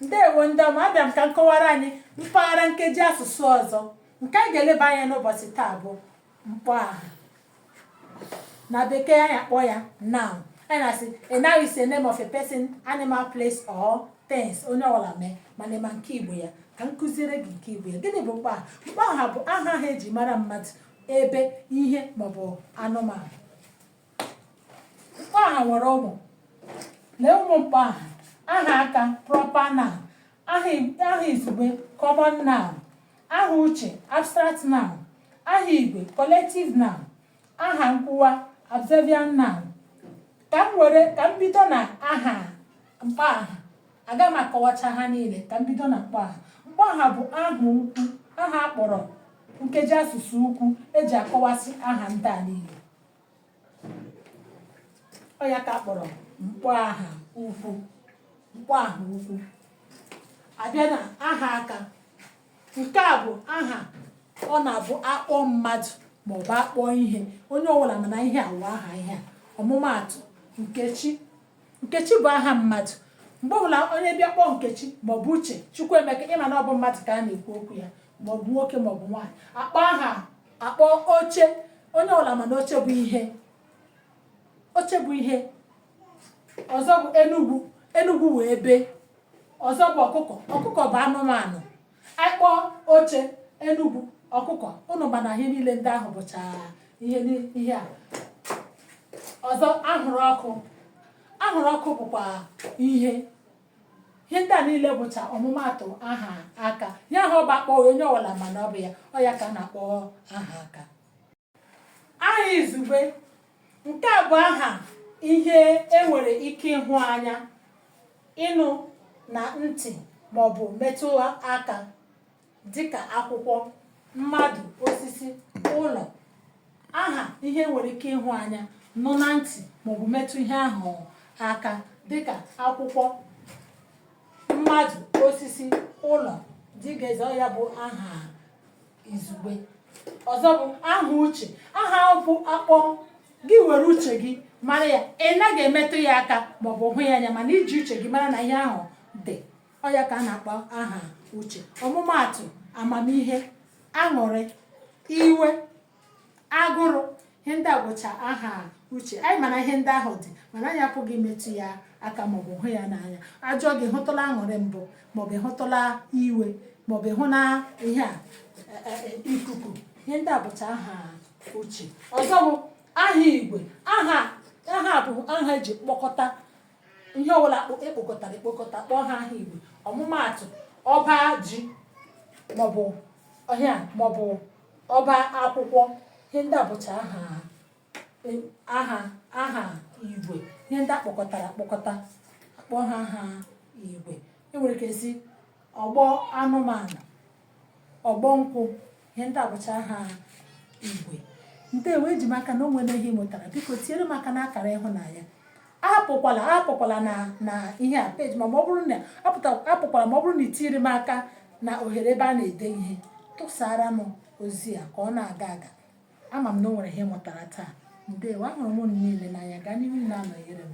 ndewo ndị ọma abịa m ka m kọwara anyị mpaghara nkeji asụsụ ọzọ nke anyị ga-eleba anya n'ụbọchị taa bụ mkpọ aha na bekee anyị akpọ ya noun anyị na-asị a noun is a name of a person animal place or things onye ọbụla mee mana ị ma nke igbo ya ka m kuziere gị nke igbo ya gịnị bụ mkpọ aha mkpọ aha bụ aha ahụ eji mara mmadụ ebe ihe maọbụ anụmanụ mkpọ aha nwere ụmụ nee ụmụ mkpọ aha aha aka proper noun aha i- aha izugbe common noun aha uche abstract noun aha igwe collective noun aha nkwuwa adverbial noun ka m were ka m bido na aha mkpọ aha aga m akọwacha ha niile ka m bido na mkpọ aha mkpọ aha bụ aha ukwu aha akpọrọ nkeji asụsụ ukwu eji akọwasị aha ndị a niile ọ ya ka akpọrọ mkpọ aha ukwu mkpọ aha ukwu abịa na aha aka nke a bụ aha ọ na-abụ akpọ mmadụ maọbụ akpọ ihe onye ọbụla ma na ihe a wụ aha ihe a ọmụmaatụ nkechi nkechi bụ aha mmadụ mgbe ọbụla onye bịa kpọọ nkechi maọbụ uche chukwuemeka ị ma na ọ bụ mmadụ ka a na-ekwu okwu ya maọbụ nwoke maọbụ nwaanyị akpọ aha akpọ oche onye ọwụla ma na oche bụ ihe oche bụ ihe ọzọ bụ enugwu enugwu wụ ebe ọzọ bụ ọkụkọ ọkụkọ bụ anụmanụ anyị kpọọ oche enugwu ọkụkọ ụnụ ma na ihe niile ndị ahụ bụcha ihe ni- ihe a ọzọ anwụrụ ọkụ anwụrụ ọkụ bụkwa ihe ihe ndị a niile bụcha ọmụmaatụ aha aka ihe ahụ ọ bụ akpọ onye ọwụla ma na ọ bụ ya ọ ya ka a na-akpọ aha aka aha izugbe nke a bụ aha ihe enwere ike ịhụ anya ịnụ na ntị maọbụ metụ aka dịka akwụkwọ mmadụ osisi ụlọ aha ihe enwere ike ịhụ anya nụ na ntị maọbụ metụ ihe ahụ aka dịka akwụkwọ mmadụ osisi ụlọ dịgazie ya bụ aha izugbe ọzọ bụ aha uche aha a bụ akpọ gị were uche gị mara ya ị naghị emetụ ya aka maọbụ hụ ya anya mana i ji uche gị mara na ihe ahụ dị ọ ya ka a na-akpọ aha uche ọmụmaatụ amamihe aṅụrị iwe agụrụ ihe ndị a wụcha aha uche anyị ma na ihe ndị ahụ dị mana anyị apụghị imetụ ya aka maọbụ hụ ya n'anya ajụọ gị hụtụla aṅụrị mbụ maọbụ ị hụtụla iwe maọbụ ịhụ na ihe a e, e, e, ikuku ihe ndị a bụcha aha uche ọzọ bụ aha igwe aha a bụ aha eji kpọkọta ihe ọbụla e kpokọtara ekpokọta kpọọ ha aha igwe ọmụmaatụ ọba ji maọbụ ọhịa maọbụ ọba akwụkwọ ihe ndị a bụcha aha e, aha aha igwe ihe ndị e kpokọtara ekpokọta a kpọọ ha aha igwe e nwere ike sị ọgbọ anụmanụ ọgbọ nkwụ ihe ndị a bụcha aha igwe ndewo eji m aka na o nwere ihe ị mụtara biko tinyere m aka n'akara ịhụnanya apụkwala apụkwala na na ihe a peji ma ma ọ bụrụ na apụta apụkwala ma ọ bụrụ na i tinyere m aka na ohere ebe a na-ede ihe tụsara m ozi a ka ọ na-aga aga ama m na o nwere ihe ị mụtara taa ndewo ahụrụ m unu niile n'anya gaa n'ihu na-anọnyere m